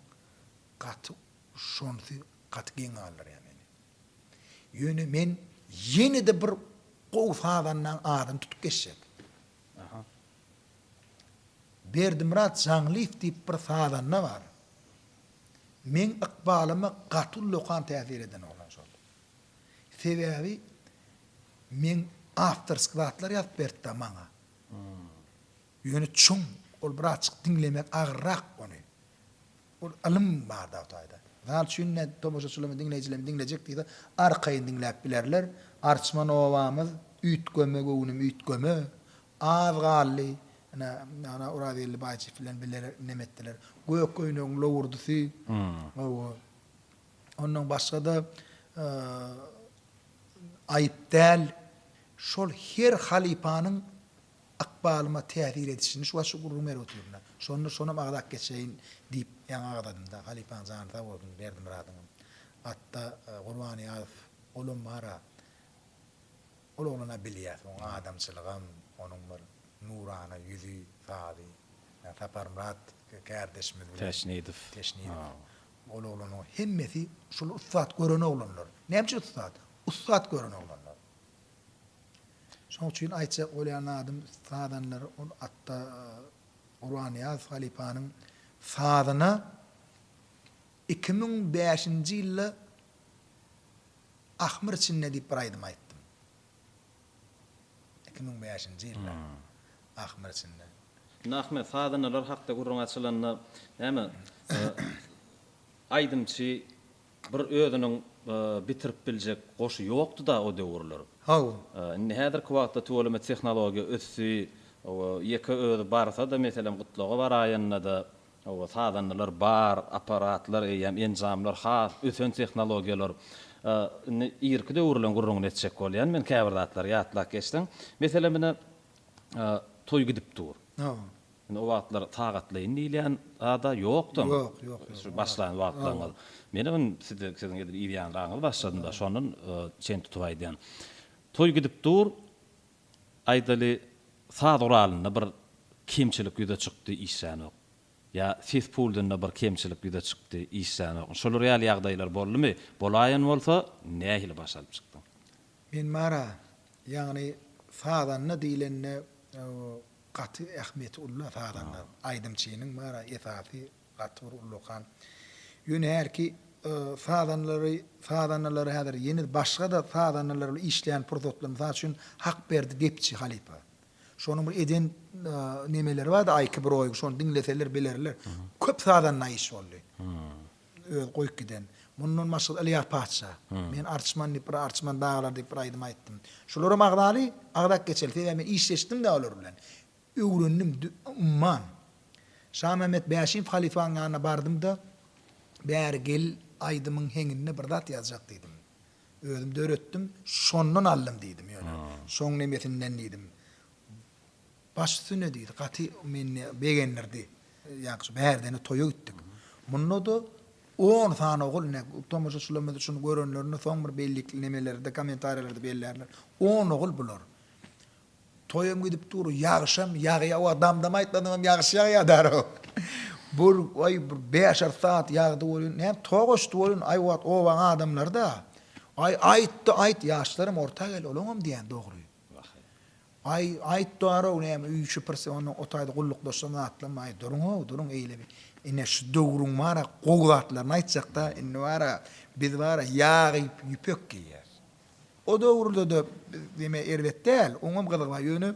gaty şonsy gaty geň galdyrýar meni. Ýöne men ýene-de bir gowy sazandaň adyny tutup geçjek. Berdimyrat Jaňlyýew diýip bir sazanda bar. Meň ykbalyma gaty ullakan täsir eden oglan şol. Sebäbi men awtorsk zatlar ýazyp beripdi maňa. Ýöne çuň, ol bir azçyk diňlemek agyrrak ony. Ol ylym bar dagy taýda. Mysal üçin ine tomaşaçylarymyz, diňleýjilerimiz diňlejek diýse arkaýyn diňläp bilerler. Arçman obamyz, üýtgeme göwnüm üýtgeme, az galdy, ine ana Orazgeldi Baýçyýew bilen bile nem etdiler. Gök öýnügiň lowurdysy, hawa. Ondan başga-da Aýyp däl, Şol her halypanyň ykbalyma täsir edişini şu wagt şu gürrüň berip otyryn-da. Şonda şonam agzap geçeýin diýip ýaňy agzadym-da. Halypaň jany sag bolsun, Berdimyradyňam. Atda Gurbanyýazow, olam bar-a. Ol oglana bilýäs, onuň adamçylygam, onuň bir nurana ýüzi, sazy. Ýa Saparmyrat kärdeşimiz bilen. Täşnidow. Täşnidow. Ol oglanyň hemmesi şol ussat gören oglanlar. Näme üçin ussat? Ussat gören oglanlar. Şonuň üçin aýtjak bolýan zadym sazanlar ol atda Gurbannyýaz halypanyň sazyna iki müň bäşinji ýylda Ahmyr içinde diýip bir aýdym aýtdym. Iki müň bäşinji ýylda Ahmyr içinde. Indi Ahmet sazanalar hakda gürrüň açylanda näme aýdymçy Bir özüniň bitirip biljek goşy ýokdy-da o döwürler. Haw. Indi häzirki wagtda tüweleme tehnologiýa ösdi. Hawa, ýeke özi barsa-da, meselem, gutlaga baraýanda-da, hawa, sazandalar bar, apparatlar eýýäm, enjamlar has ösen tehnologiýalar. Indi irki döwürleň gürrüňini etjek bolýan men, käbir zatlary ýatlap geçseň. Meselem, ine, toý gidip dur. Hawa. Indi o wagtlar sagatlaýyn diýilýän zad-a ýokdy. Ýok, ýok, ýok. Şu başlan wagtlaryňyz. Menem indi size, siziň edil ir ýaňraňyz başladym-da, şondan çen tutup aýdýan. Toý gidip dur, aýdaly, saz guralynda bir kemçilik ýüze çykdy, işlänok. Ýa ses pultynda bir kemçilik ýüze çykdy, işlänok. Şolar ýaly ýagdaýlar boldumy? Bolaýan bolsa, nähili baş alyp çykdyň? Men bar-a, ýagny sazanda diýlende, Gaty ähmiýeti ulla sazanlaryň. Aýdymçynyň bara esasy gaty bir uly okan. Ýöne hälki sazanlary sazanalary häzir ýene başgada sazandalar bilen işleýän pursatlar mysal üçin Hakberdi gepçi halypa. Şonuň bir eden nemeleri bardy aýky broýgy şony diňleseler bilerler. Köp sazanda iş boldy. Özi goýup giden. Mundan başga-da Ylýas patyşa. Men Arçman diýip bir Arçman daglar diýip bir aýdym aýtdym. Şolaram agzaly, agzap geçeli. Sebäbi men işleşdim-de olar bilen. Öwrendim, umman. Şamämmet Bäşim halypanyň ýanyna bardym-da, Bäri gel, aýdymyň heňinde bir zat ýazjak diýdim. Özüm döretdim, şondan aldym diýdim ýöne. Şoň nemesinden diýdim. Baş üstüne diýdi. Gaty meni begendirdi. Ýagşy, bärde-ne toýa gitdik. Munda-da on sany ogul, ine, tomaşaçylarymyz şuny görenlerinde soň bir bellikli nemelerde, kommentariýalarda bellärler. On ogul bular. Toýam gidip dur, ýagşam ýagýa, hawa, dam-dam aýtmadyňam ýagşy ýagýa dara. Bir, aý, bir bäş-alty sagat ýagdy welin, näme, togaşdy welin, aý, wagt, obaň adamlary-da, Aý, aýt-da, aýt, ýaşlaram orta gel, olaňam diýýäni dogry. Aý, aýt bar-ow, näme öý şüpürse ondan otaýda gullukdaşdan zatlanmaý, duruň-ow, duruň eýle bir. Ine, şu döwrüň bar-a gowy zatlaryny aýtjak-da, indi bar-a, biz bar-a ýag iýip, ýüpek geýýäs. O döwürde-de biz diýme erbet däl, oňam gyzygy bar, ýöne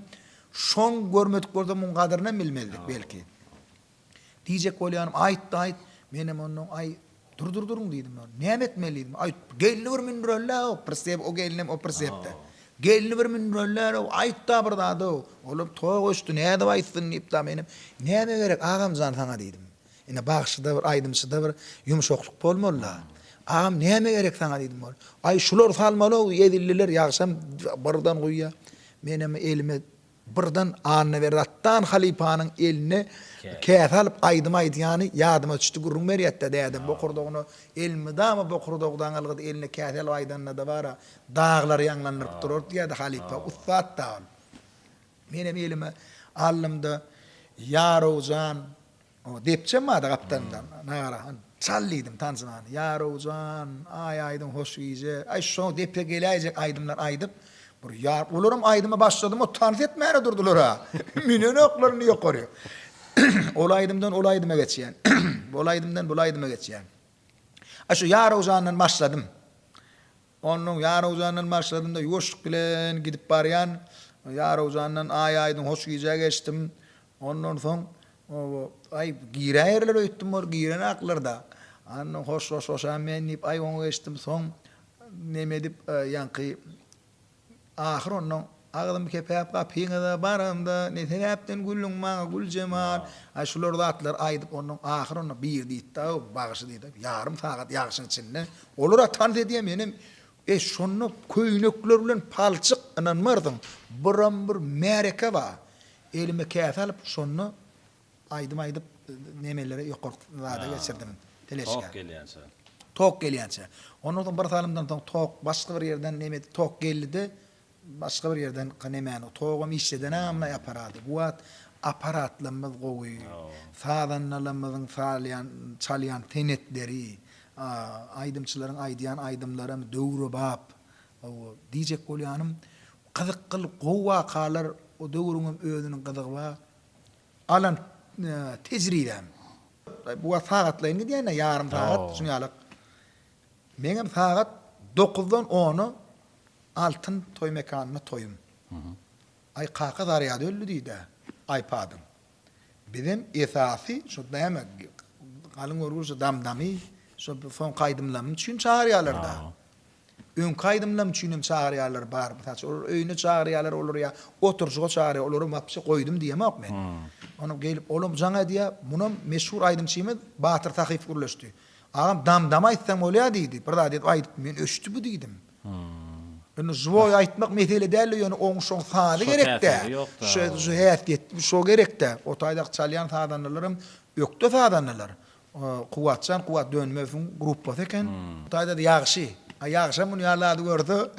şoň görmedik bolsa muň gadyrynam bilmezdik, belki. Diýjek bolýanym, aýtdy, aýt! Menem onnoň, Aý, dur, dur, duruň! diýdim. Näme etmeli diýdim. Aýt, gelni bir mündüreli-ow, prysep, o gelnem, o prysep-de. Gelni bir mündüreli-ow, aýt-da bir zad-ow! Olam tok öçdi, nädip aýtsyn diýip-da menem, Näme gerek, agam jan, saňa diýdim. Ine, bagşyda bir, aýdymçyda bir ýumşaklyk bolmaly-da. Agam, näme gerek saňa diýdim. Ol, Aý, şular salmaly-ow, edildiler, ýagşam birden guýýa. Menem elime Birden Annaberdi atdan halypanyň eline käse alyp aýdym aýdýany ýadyma düşdi, gürrüň berýätdi-ä dädem bokurdagyna elmydama bokurdagdan algydy eline käse alyp aýdanda-da bar-a, daglary ýaňlandyryp durar diýýärdi halypa, ussat-da ol. Menem elime aldym-da, Ýarow jan, O, depjem bardy gapdalynda, Nagara han. Çal diýdim tanzymany. Ýarow jan, Aý aýdyň hoş gije, aý şo depe geläýjek aýdymlar aýdyp, bir ýar, olaram aýdyma başladyma tans etmäne durdular-a, münenoklarynda ýokary. Ol aýdymdan ol aýdyma geçýän, ol aýdymdan bul aýdyma geçýän. A şo Ýarow jandan başladym. Onuň Ýarowjandan başladym-da, ýuwaşlyk bilen gidip barýan. Ýarowjandan Aý-Aýdyň hoş gijä geçdim. Ondan soň, aý, giräýerler öýtdüm, olar girenaklar-da. Andan soň hoşlaşaýan men diýip, aý, oňa geçdim. Soň, nemedip, ýaňky Ahyr onnoň agzym kepäp gapyňyza baramda, ne sebäpden güldüň maňa Güljemal? Aý şular zatlary aýdyp onnoň ahyr onnoň biri diýipd-aw, bagşy diýipd-aw, ýarym sagat ýagşyň içinde, olar-a tans edýär menem e şonda köýnekler bilen palçyk ynanmarsyň, biram bir märeke bar, elime käse alyp şonda Aýdym aýdyp nemeleri ýokarky zada geçirdim. Fleşka. Tok gelýänçä. Tok gelýänçä. Ondan soň bir salymdan soň tok başga bir ýerden neme tok geldide başga bir ýerden nemäni togam işleden amly aparaty. Bu wagt aparatlarymyz gowy. Sazandalarymyzyň salýan çalýan senetleri, aýdymçylaryň aýdýan aýdymlaram döwrebap. Hawa, diýjek bolýanym gyzykly gowy wakalar o döwrüňem özüniň gyzygy bar. alan tejribäm. Bu wagt sagatlaýyn gidýän-ä, ýarym sagat, şuny alyk. Meňem sagat dokuzdan ona Altyn toý mekanynda toýum. Aý, kaka zarýady öldi diýdi-ä aýpadyň. Bizem esasy şu näme, galyň görgüli şu dam-damy, şu soňky aýdymlarym üçin çagyrýarlar-da. Öňki aýdymlam üçin hem çagyrýarlar bar. Mysal üçin, olar öýüne çagyrýarlar, olar ýa oturyjyga çagyrýar, olaram wapşe goýdum diýemok men. Onam gelip, olam jaň edýär. Munam meşhur aýdymçymyz Batyr Sahyp gürleşdi. Agam dam-dam aýtsaň bolýa diýdi. Bir zat edip aýdypdym, men öçdi bu diýdim. Indi žwoý aýtmak mesele däldi, ýöne oň şoň sazy gerek-dä. Şo häsiýetli, şo gerek-dä. O taýdaky çalýan sazandalaram ökde sazandalar. Kuwwatjan Kuwwat Dönmezowyň gruppasy eken. Hytaýda-da ýagşy. A ýagşam muny ýaly zady görse,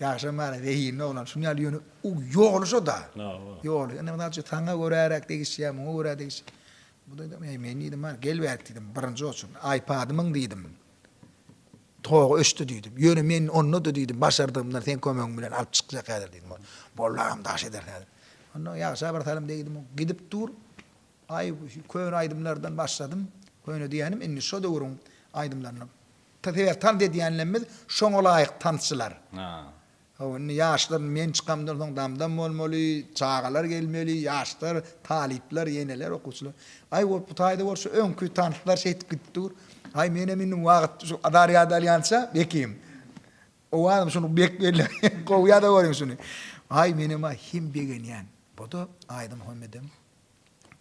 ýagşam bar-a, zehinli oglan. Şuny ýaly ýöne u ýogalşa-da. Ýogaly. Indi, mysal üçin, saňa göräräk degişýär, muňa görä degiş. Bu diýdim, Eý, men diýdim, bar, gel bärik diýdim, birinji oçun, aýpady myň diýdim. Togy öçdi diýdim. Ýöne men onda-da diýdim, başardygymdan seň kömegiň bilen alyp çykjak häzir diýdim. Boldy agam, daş ederis häzir. Onda ýagşa birsalym degdim, gidip dur. Aý şu köne aýdymlardan başladym. Köne diýýänim indi şo döwrüň aýdymlaryny. Sebäbi tans edýänlerimiz şoňa laýyk tansçylar. Hawa indi ýaşlar men çykamdan soň dam-dam bolmaly, çagalar gelmeli, ýaşlar, talyplar, eneler, okuwçylar. Aý bolup bu taýda bolsa öňki tanslar şeýtip gidip dur. Aý menem indi wagt şu azar ýada alýança bekim. Owazym şuny bek belli gowy ýada görüň şuny. Aý menem aý hem begenýän. Bu-da aýdym hemmedem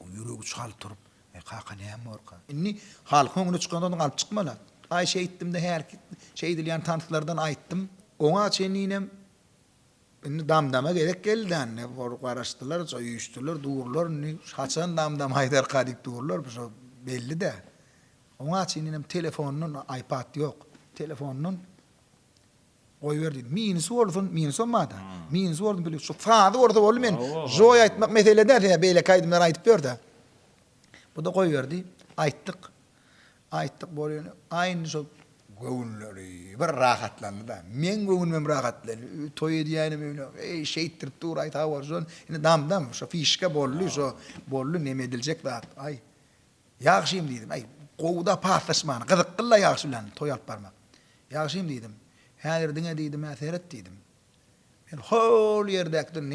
Ýüregi çal turup, Eý, kaka, näme borka? Indi halkyň öňüne çykanda onuň alyp çykmana. Aý, şeýtdim-de, hälki şeýdilýän tanslardan aýtdym. Oňa çenli inem Indi dam-dama gezek geldi-dä, indi bor garaşdylar, şo üýşdüler, durlar, indi haçan dam-dam aýdarka diýip durlar, bir şo belli-dä. Oňa çenli inem telefondan, aýpad ýok, telefondan Goýber diýdim. Minusy bolsun, minusam bar-da. Minusy bolsun pul ýok. Şu sazy bolsa boldy men. Joý aýtmak mesele däl, sen beýleki aýdymlary aýdyp ber-de. Bu-da goýberdi. Aýtdyk. Aýtdyk bolýan. Aý indi şol göwünleri bir rahatlandy-da. Meň göwnümem rahatlandy. Toý edýäýenim öýle. Eý, şeýtdirip dur-aý sag bolsun. Indi dam-dam, şo fişka boldy, şo boldy neme ediljek zat. Aý. Ýagşym, diýdim. Äý, gowy-da paslaşman, gyzykly-la ýagşy bilen toý alyp barmak. Ýagşym, diýdim, häzir diňe diýdim-ä seret diýdim. Men hol ýerdäkden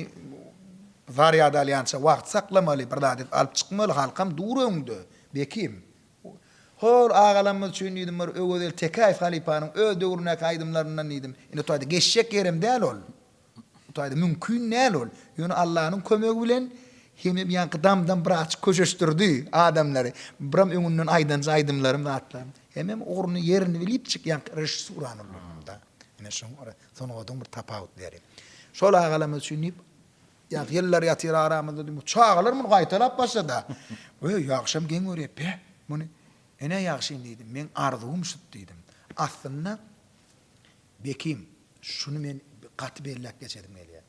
zarýad alýança wagt saklamaly, bir zat edip alyp çykmaly, halkam dur öňde, Bekim. Hol agalarymyz üçin diýdim bir Öwezeli Tekäýew halypanyň öz döwründäki aýdymlaryndan diýdim. Indi toýda geçjek ýerim däl ol. Bu taýda mümkin däl ol. Ýöne Allanyň kömegi bilen hemem ýaňky damdam biraçyk köşeşdirdi adamlary. Biram öňünden aýdanja aýdymlarym, zatlarym. Hemem ugruny, ýerini bilipjik ýaňky režissuran ullanym-da. Ine şoň ara sungatyň bir tapawutlyary. Şol agalarymyz üçin diýip, ýaňky ýyllar ýatyr aramyzda diýdim. Bu çagalar muny gaýtalap başlady-a. Wöý, ýagşam geň görýär, beh, muny. Ine ýagşyny diýdim. Meň arzuwym şut diýdim. Aslynda. Bekim, şuny men gaty belläp geçesim gelýär.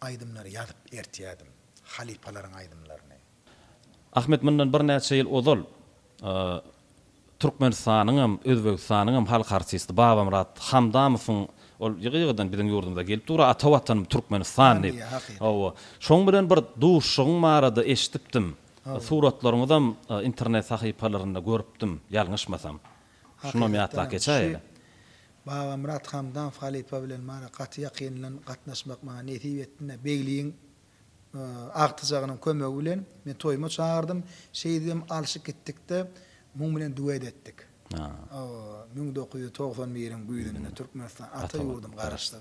Aýdymlary ýazyp ertýärdim. Halypalaryň aýdymlaryny. Ahmet mundan birnäçe ýyl ozal Türkmenistanyňam, Özbegistanyňam halk artisti Babamyrat Hamdamowyň ol ýygy-ýygydan biziň ýurdumyza gelip dur, Ata Watanym Türkmenistan diýip. Hawa. Şoň bilen bir duşuşygyň barada eşidipdim. Suratlaryňyzam internet sahypalarynda görüpdim, ýalňyşmasam. Şunam ýatlap geçäýeli. Babamyrat Hamdamow halypa bilen maňa gaty ýakyndan gatnaşmak maňa nesip etdine. Begligiň agtyjagynyň kömegi bilen men toýuma çagyrdym. Şeýdibem alşyp gitdik-de, muň bilen duet etdik. O, müň dokuz ýüz togsan biriň güýzünde Türkmenistan, ata ýurdum garaşdyr.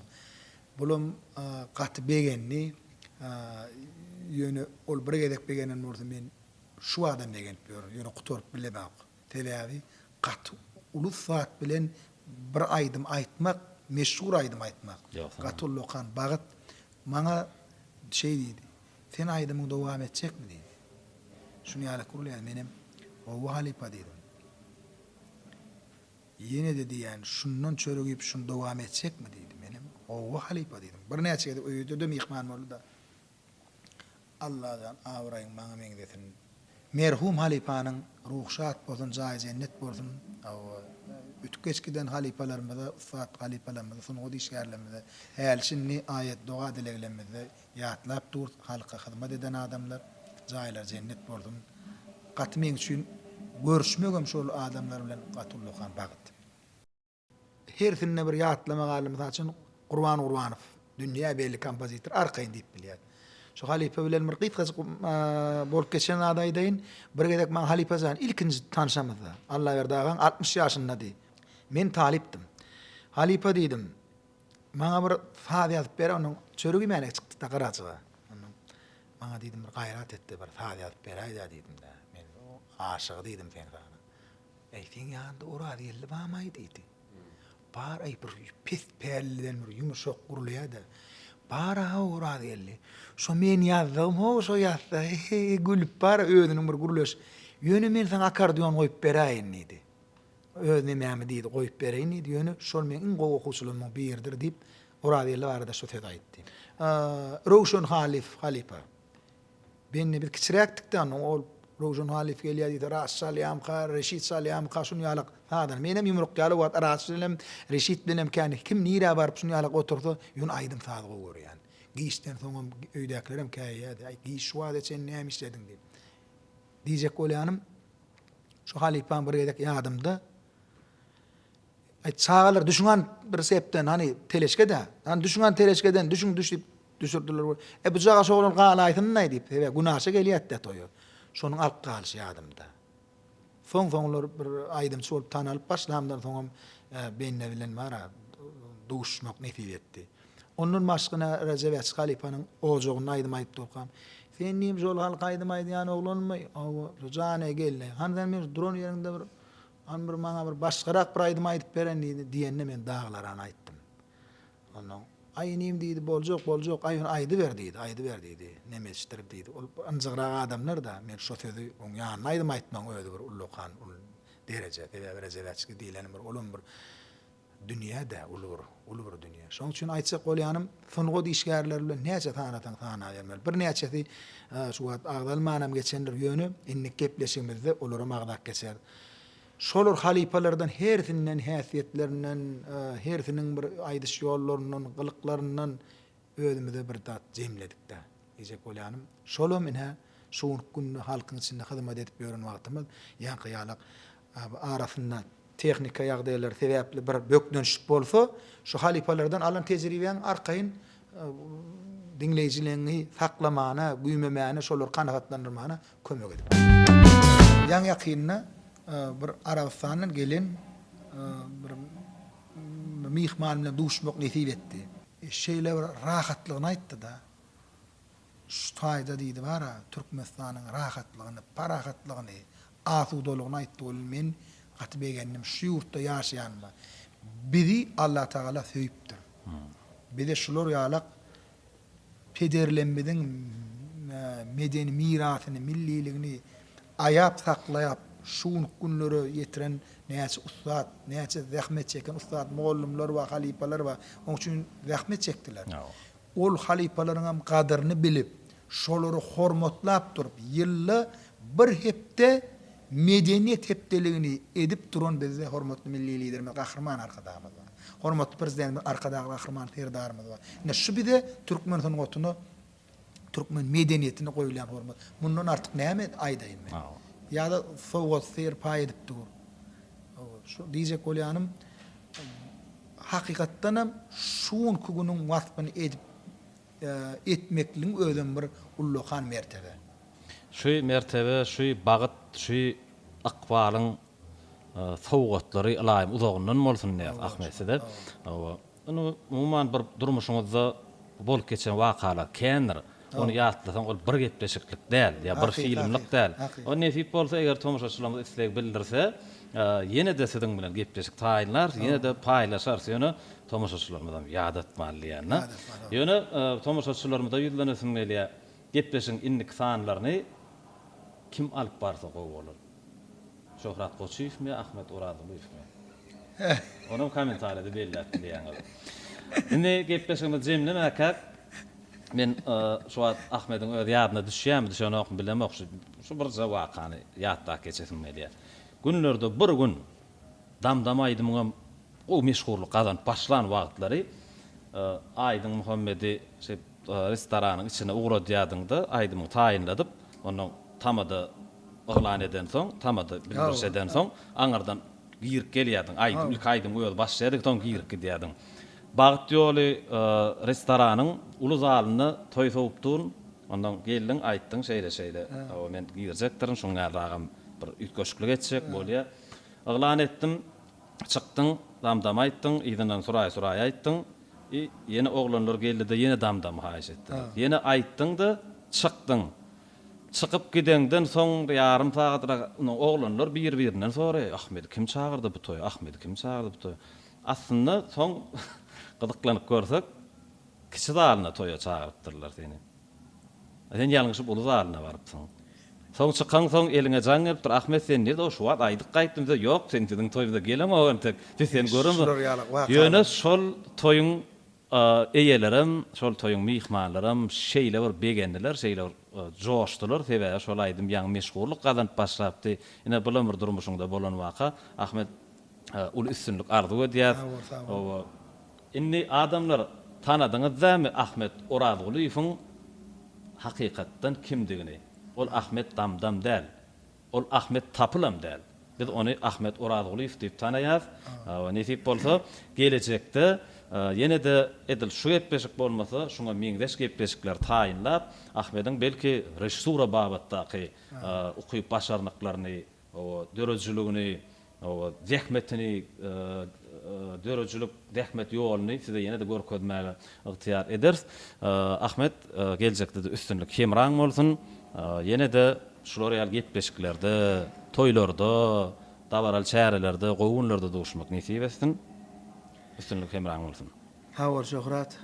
Bulam gaty begendi. Ýöne ol bir gezek begenen bolsa, men şu badam begenip ýörün. Ýöne gutaryp bilemok. Sebäbi gaty ulus zat bilen bir aýdym aýtmak, meşhur aýdym aýtmak, gaty ullakan bagt. Maňa şeý diýdi, Sen aýdymyňy dowam etjekmi diýdi. Şuny ýaly gürleýän menem, Hawa halypa diýdim. Ýene-de diýýän, Şundan çörek iýip şuny dowam etjekmi diýdi. Menem, Hawa halypa diýdim. Birnäçe gezek öýüde-de myhman boldy-da. Allajan abraýyň maňa meňzesin. Merhum halypanyň ruhy şat bolsun jaýy jennet bolsun hawa ötüp geçip giden halypalarymyza ussat halypalarymyza sungat işgärlerimize häli şindi aýat doga dileglemizde ýatlap durys halka hyzmat eden adamlar jaýlary jennet bolsun gaty meň üçin görüşmegem şol adamlar bilen gaty ullakan bagt. Hersinde bir ýatlama galdy. Mysal üçin, Gurban Gurbanow, dünýä belli kompozitor, arkaýyn diýip bilýär. Şu halypa bilen bir gysgajyk bolup geçen zady aýdaýyn. Bir gezek maňa halypa jan, ilkinji tanşamyzda, Allaberdi agaň altmyş ýaşyndady. Men talypdym. Halypa diýdim, maňa bir saz ýazyp ber, onuň çöregi iýmäne çykdy-da Garajaga. Ondan maňa diýdim, bir gaýrat et-de, bir saz ýazyp beräýdä diýdim-de. Men aşygy diýdim seň sazyň. Äý, seň ýanyňda Orazgeldi bam-aý? diýdi. Bar-aý, bir pes pälliden bir ýumuşak gurlaýa-da. Bar-a-haw, Orazgeldi. Şo men ýazdygym-how, şo ýazsa, he-he, gülüp bar-a özüniň bir gürleş. Ýöne men saňa akkordeon goýup beräýin, diýdi. Öz nemämi, diýdi, goýup beräýin, diýdi, ýöne şol meň iň gowy okuwçylarymyň biridir, diýip, Orazgeldi barada şo sözi aýtdy. Röwşen Halyf halypa. Benni biz kiçiräkdikde onda ol Röwşen Halyf gelýär diýse Raşit çalýamyka, Reşit çalýamyka şuny ýalak sazany. Menem ýumruk ýaly wagt Raşit bilenem, Reşit bilenem kän kim nirä baryp şuny ýalak otursa ýöne aýdym saz gowy görýän. Giçden soňam öýdäkilerem käýýärdi. Aý giç şu wagta çen näme işlediň diýip. Diýjek bolýanym şu halypam bir gezek ýadymda. Aý çagalar düşüňan bir sepden hany teleşkede. Hany düşüňan teleşkeden düşüň düş diýip düşürdiler we e bu caga şoglany galaýsynynay diýip sebäbi günaşa gelýätdä toýa. Şonuň alyp galyşy ýadymda. Soň soňlar bir aýdymçy bolup tanalyp başlamdan soňam bende bilen bara duşmak nesip etdi. Ondan başgana Rejep Äçi halypanyň ojagynda aýdym aýdyp durkam Sen diýip şol halk aýdym aýdýan oglanmy? Hawa. Jana geldi. Hany sen bir duran ýeriňde bir Ony bir maňa bir başgarak bir aýdym aýdyp beren diýdi. Diýende men Daglarany aýtdym. Onda Aý inim diýdi, boljak, boljak, aý ony aýdyber diýdi, aýdyber diýdi. Nemeçdir diýdi. Ol ynjygrak adamlar-da. Men şo sözi oň ýanyna aýdym aýtmagyň özi bir ullakan, uly dereje. Sebäbi Rejebäçki diýleni bir olam bir Dünýä-dä uly bir, uly bir dünýä. Şonuň üçin aýtjak bolýanym, sungat işgärleri bilen näçe sanasaň sanabermeli. Birnäçesi şu wagt agzalmanam geçendir, ýöne indiki gepleşigimizde olaram agzap geçeris. Şolar halypalardan hersinden, häsiýetlerinden, hersiniň bir aýdyş ýollaryndan, gylyklaryndan özümize bir zat jemledik-dä. Diýjek bolýanym, şolam ine şu günki günde halkyň içinde hyzmat edip ýören wagtymyz ýaňky ýalak Abi arasynda tehnika ýagdaýlary sebäpli bir bökdençlik bolsa, şu halypalardan alan tejribäň arkaýyn diňleýjiligiňi saklamana, güýmemäne, şolary kanagatlandyrmana kömek edip. Ýaňy-ýakynda bir Arabystandan gelen bir myhman bilen duşmak nesip etdi. Şeýle bir rahatlygyny aýtdy-da. Şu taýda diýdi bar-a, Türkmenistanyň rahatlygyny, parahatlygyny, asudalygyny aýtdy welin, men gaty begendim. Şu ýurtda ýaşaýanyma. Bizi Allatagala söýüpdir. Bize şular ýalak pederlemmiziň medeni mirasyny, milliligini aýap saklaýap, şu günki günlere ýetiren näçe ussat, näçe zähmet çeken ussat mugallymlar bar, halypalar bar. Oň üçin zähmet çekdiler. Ol halypalaryňam gadyryny bilip, şolary hormatlap durup, ýylda bir hepde Medeniýet hepdeligini edip duran bizde hormatly Milli Liderimiz Gahryman Arkadagymyz bar. Hormatly Prezidentimiz Arkadagly Gahryman Serdarymyz bar. Ine, şu bize türkmen sungatyna, türkmen medeniýetine goýulýan hormat. Mundan artyk näme aýdaýyn men? Ýa-da sowgat-syr paý edip dur. Şu diýjek bolýanym, Hakykatdan hem şu günki günüň waspyny edip etmekligiň özem bir ullakan mertebe. Şu mertebe, şu bagyt, şu ykbalyň sowgatlary ylaýym uzagyndan bolsun diýýäs Ahmet size. Hawa. Indi umuman bir durmuşyňyzda bolup geçen wakalar kändir. Ony ýatlasaň, ol bir gepleşiklik däl, ýa bir filmlik däl. Ony nesip bolsa, eger tomaşaçylarymyz isleg bildirse, ýene-de siziň bilen gepleşik taýynlarys, ýene-de paýlaşarys. Ýöne tomaşaçylarymyzam ýadatmaly diýýän-de. Ýöne tomaşaçylarymyza ýüzlenesim gelýär, gepleşigiň indiki sanlaryny kim alyp barsa gowy bolar. Şöhrat Goçyýewmi, Ahmet Orazulyýewmi? Onam kommentariýada belläp bilýäňiz. Indi gepleşigimizi jemlemäkäk, men şu wagt Ahmediň öz ýadyna düşýärmi, düşenokmy bilemok, şu birje wakany ýatdap geçesim gelýär. Günlerde bir gün Dam-dam aýdymyňam gowy meşhurlyk gazanyp başlan wagtlary Aýdyň Muhammedi şeýdip restoranyň içine ugradýardyňda aýdymyňy taýynladyp onnoň tamada yglan edensoň tamada bildiriş edensoň aňyrdan girip gelýärdiň aýdyp ilki aýdym özi başlaýardy soň girip gidýärdiň Bagt ýoly restoranyň uly zalynda toý sowupdyn onnoň geldiň aýtdyň şeýle şeýle men girjekdirin şuň ýaly agam bir üýtgeşiklik etjek bolýar. Yglan etdiň, çykdyň, dam-dam aýtdyň, yzyndan suraý-suraý aýtdyň, i, ýene oglanlar geldi-de ýene dam-dam haýyş etdiler. Ýene aýtdyň-da, çykdyň. Çykyp gideňden soň ýarym sagatrak indi oglanlar bir-birinden soraýar, Ahmedi kim çagyrdy bu toýa, Ahmedi kim çagyrdy bu toýa? Aslynda soň gyzyklanyp görsek, kiçi zalyna toýa çagyrypdyrlar seni. Sen ýalňyşyp uly zalyna barypsyň. Soň çykaňsoň eliňe jaň gelipdir. Ahmet sen nirde şu wagt aýdyk gaýtdym diýse ýok sen biziň toýumyza geleňok entek biz seni göremzok. Ýöne şol toýuň eýelerem şol toýuň myhmanlaram şeýle bir begendiler şeýle bir joşdular sebäbi şol aýdym ýaňy meşhurlyk gazanyp başlapdy ine bulam bir durmuşyňda bolan waka Ahmet uly üstünlik arzuw edýäs. Indi adamlar tanadyňyz dämi Ahmet Orazgulyýewiň hakykatdan kimdigini. Ol Ahmet Damdam däl. Ol Ahmet Tapylam däl. Biz ony Ahmet Orazgulyýew diýip tanaýas. Nesip bolsa, gelejekde ýene-de edil şu gepleşik bolmasa, şuňa meňzeş gepleşikler taýynlap, Ahmediň belki režissura babatdaky ukyp-başarnyklaryny döredijiligini, zähmetini, döredijilik zähmet ýoluny size ýene-de görkezmäge ygtyýar ederis. Ahmet, geljekde-de üstünlik hemraň bolsun! Ýene-de şular ýaly gepleşiklerde, toýlarda, dabaraly çärelerde, gowy günlerde duşmak nesip etsin! Üstünlik hemraň bolsun! Sag bol Şöhrat!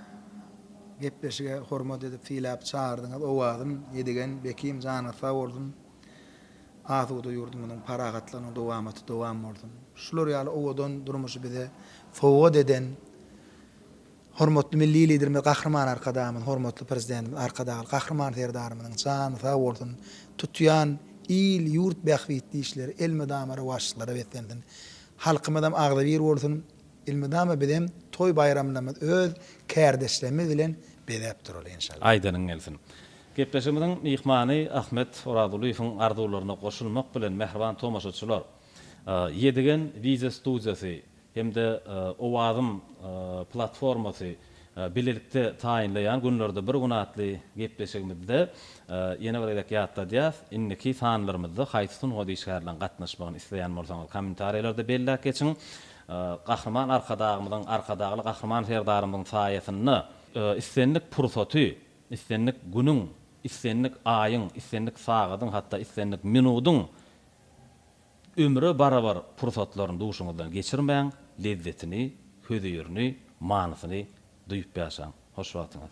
Gepleşige hormat edip, syläp çagyrdyňyz. Owazym, Ýedigen, Bekim, janyňyz sag bolsun! Asuda ýurdumyzyň parahatlygynyň dowamaty dowam bolsun! Şular ýaly owadan durmuşy bize sowgat eden hormatly Milli Liderimiz Gahryman Arkadagymyz, hormatly Prezidentimiz Arkadagly Gahryman Serdarymyzyň jany sag bolsun, tutýan il-ýurt bähbitli işleri elmydama rowaçlyklara beslensin. Halkymyzam agzybir bolsun, elmydama bizem toý-baýramlarymyzy öz kärdeşlerimiz bilen bezäp duraly enşalla. Aýdanyň gelsin. Gepleşigimiziň myhmany Ahmet Orazulyýewiň arzuwlaryna goşulmak bilen mähriban tomaşaçylar, Ýedigen wideo studiýasy hem-de Owazym platformasy bilelikde taýynlaýan Günlerde bir gün atly gepleşigimizde ýene bir gezek ýatladýas, indiki sanlarymyzda haýsy sungat işgärleriň gatnaşmagyny isleýän bolsaňyz kommentariýalarda belläp geçiň. Gahryman Arkadagymyzyň, Arkadagly Gahryman Serdarymyzyň saýasynda, islendik pursaty Islendik günüň, islendik aýyň, islendik sagadyň, hatda islendik minudyň ömre barabar pursatlaryny duşuňyzdan geçirmäň, lezzetini, hözirini, manysyny duýup ýaşaň. Hoş wagtyňyz!